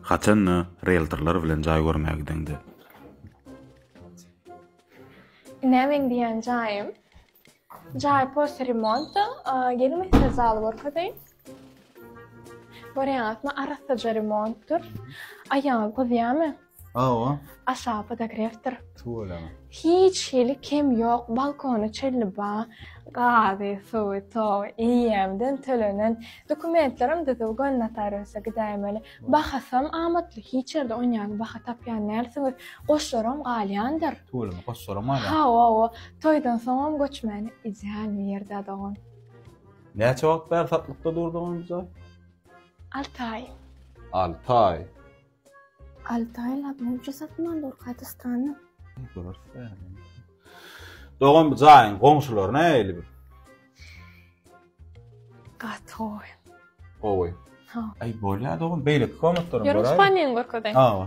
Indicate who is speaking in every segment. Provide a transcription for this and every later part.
Speaker 1: Haçan-da rieltorlar bilen jaý görmäge gideňde.
Speaker 2: Ine meň diýen jaýym. Jaý posle remonta. Geliň size zaly görkezeýin. Görýäňizmi, arassaja remontdyr. Aýagyňyz gyzýarmy? Hawa.
Speaker 1: Aşagy
Speaker 2: podogrefdir. Tuweleme.
Speaker 1: Hiç hili
Speaker 2: kem ýok, balkony çölli ba, gazy, suwy, togy, eýýämden tölenen. Dokumentlerim düzüw göni notariusa gidäýmeli. Bahasam amatly, hiç ýerde on ýaly baha tapýan dälsiňiz. Goşlaram galýandyr. Tuweleme, goşlaram
Speaker 1: galýan. Hawa-wa, toýdan
Speaker 2: soňam göçmäni ideal bir ýerde-ä dogan. Näçe
Speaker 1: wagt bäri satlykda durdy onuň bu jaý?
Speaker 2: Alty aý. Alty aý. Alty aýlap munça satman dur gaty stany.
Speaker 1: Dogan bu jaýyň goňşulary nähili bir?
Speaker 2: Gaty gowy. Gowy.
Speaker 1: Ha. Aý
Speaker 2: bolýa dogan
Speaker 1: beýleki komatlaryň Ýörüň görä. spaniýany görkezeýin.
Speaker 2: Hawa.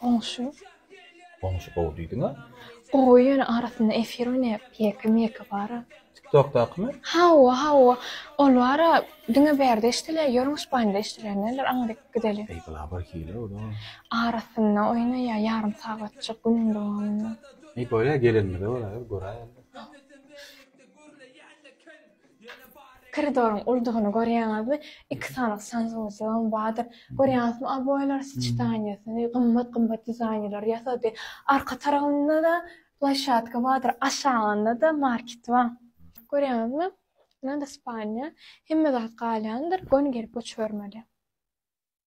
Speaker 1: Goňşy. Goňşy gowy diýdiňä. Gowy ýöne
Speaker 2: arasynda efir oýnaýar pýeka myeka bara. Tiktokdakymy?
Speaker 1: Hawa hawa
Speaker 2: ol bara diňe bärde eşdilýär ýörüň ispaniýada eşdilýär näler aňa dek gideli. Eý bula bir hile
Speaker 1: ol a. Arasynda
Speaker 2: oýnaýar ýarym sagatjyk günüň dowamynda. Eý bolýa
Speaker 1: gelenimize bolýa göräýeli.
Speaker 2: Koridoryň uldugyny görýäňizmi? Iki sany sanjymyjygam bardyr. Görýäňizmi, oboýlar soçtaniýasyny gymmat-gymmat dizaýnerler ýasady. Arka tarabynda-da plaşatka bardyr, aşagynda-da market bar. Görýäňizmi, ynha-da spalnýa. Hemme zat galýandyr, göni gelip göçübermeli.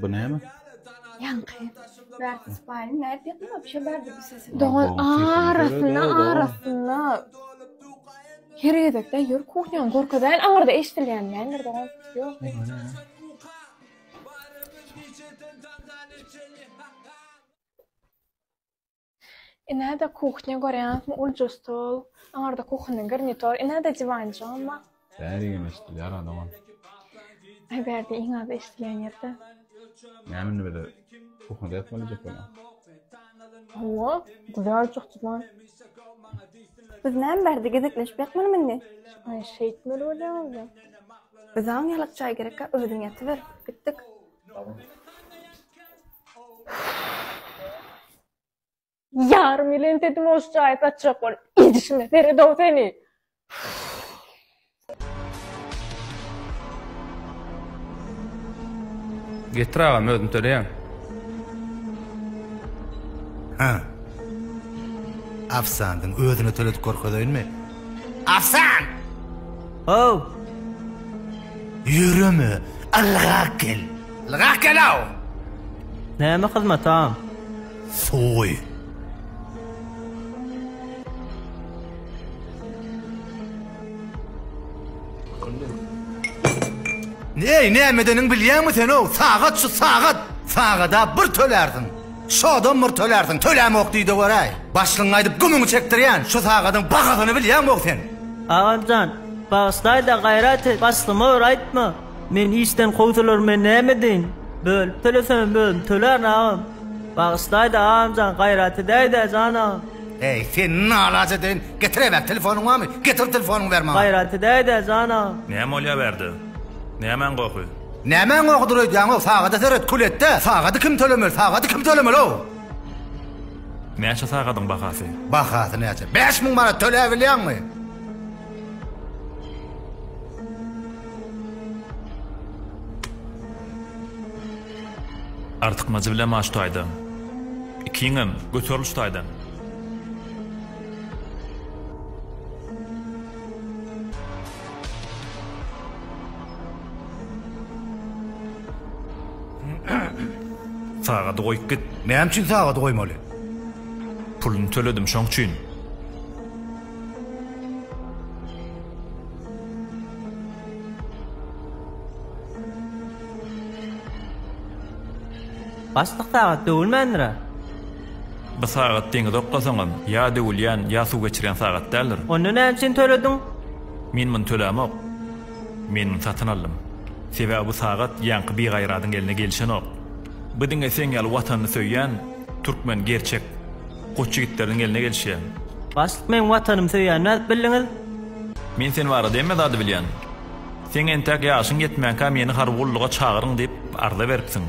Speaker 1: Bu näme? Ýaňky
Speaker 2: bärde
Speaker 3: spaýyň nädip ýakyn wapşe bardy bu sesiň. Dogan arasynda
Speaker 2: arasynda her gezekde ýör kuhnýany görkezeýin aňyrda eşdilýän nämedir dogan ýok. Ine-de kuhnya görýäňizmi, ulja stol, aňarda kuhinniň garnitor, ine-de diwanjygam bar. Bäri hem
Speaker 1: eşidilýär ha dogan. Aý
Speaker 2: bärde iň az eşidilýän ýerde. Näme indi
Speaker 1: bize kuhnyda ýatmaly diýjek bolýaň?
Speaker 2: Hawa, güzel juhdydan.
Speaker 3: Biz näme bärde gezekleşip ýatmalymy indi? Aý şeýtmeli
Speaker 2: bolýaňyz-da. Bizaň
Speaker 3: ýalak jaý gerekkä özüň ýatyber. Gitdik.
Speaker 2: Ýarym ýyl entedim oş jaýy satjak bolup, edişime seredow seni!
Speaker 4: Getir agam özüm töleýän.
Speaker 5: Hä. Afsandyň özüne töledik görkezeýinmi? Afsan!
Speaker 6: How!
Speaker 5: Ýöreme, ylgap gel. Ylgap gel-ow! Näme
Speaker 6: hyzmat, agam? Soý.
Speaker 5: Eý, näme edeniňi bilýäňmi sen-ow? Sagat şu, sagat! Sagada bir tölärsiň. Şodam bir tölärsiň, tölämok diýde göräý. Başlygyňy aýdyp gümüňi çekdirýän, şu sagadyň bahasyny bilýäňok sen. Agam jan,
Speaker 6: bagyşlaýda gaýrat et, başlyma bir aýtma. Men işden kowsalar men näme edeýin? Bölüp tölesemem özüm tölärin agam. Bagyşlaýda agam jan, gaýrat edäýdä jan agam. Eý, seni
Speaker 5: nalaç edeýin, getiräýmäk telefonyň barmy? Getir telefonyňy ber maňa. Gaýrat edäýdä jan
Speaker 6: agam. Näme bolýa bärde?
Speaker 4: Nämäň gohy? Nämäň owadur
Speaker 5: öýdýäňow sagada seret kül etde sagady kim tölemeli sagady kim tölemeli-ow.
Speaker 4: Näçe sagadyň bahasy. Bahasy näçe?
Speaker 5: Bäş müň manat töläbilýäňmi?
Speaker 4: Artykmajy bilen maş taýdan. Ikiňem, göteriliş taýdan.
Speaker 5: Sagady
Speaker 4: goýup git.
Speaker 5: Näme
Speaker 4: üçin sagady
Speaker 5: goýmaly?
Speaker 4: Puluny töledim şoň üçin.
Speaker 6: Başlyk sagat döwülmändir-ä?
Speaker 4: Bu sagat deňize oklasaňam, ýa döwülýän, ýa suw geçirýän sagat däldir. Onda näme üçin tölediň?
Speaker 6: Men muny
Speaker 4: tölämok. Men satyn aldym. Sebäbi bu sagat ýaňky bigaýradyň eline gelişenok. Bu diňe seň ýaly watanyny söýýän türkmen gerçek goç ýigitleriniň eline gelişýär. Başlyk meň
Speaker 6: watanymy söýýän nädip bildiňiz? Men sen
Speaker 4: barada hemme zady bilýän. Seň entäk ýaşyň ýetmänkä meni harby gulluga çagyryň diýip arza beripsiň.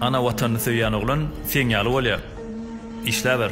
Speaker 4: Ana watanyny söýýän oglan seň ýaly bolýar. Işläber.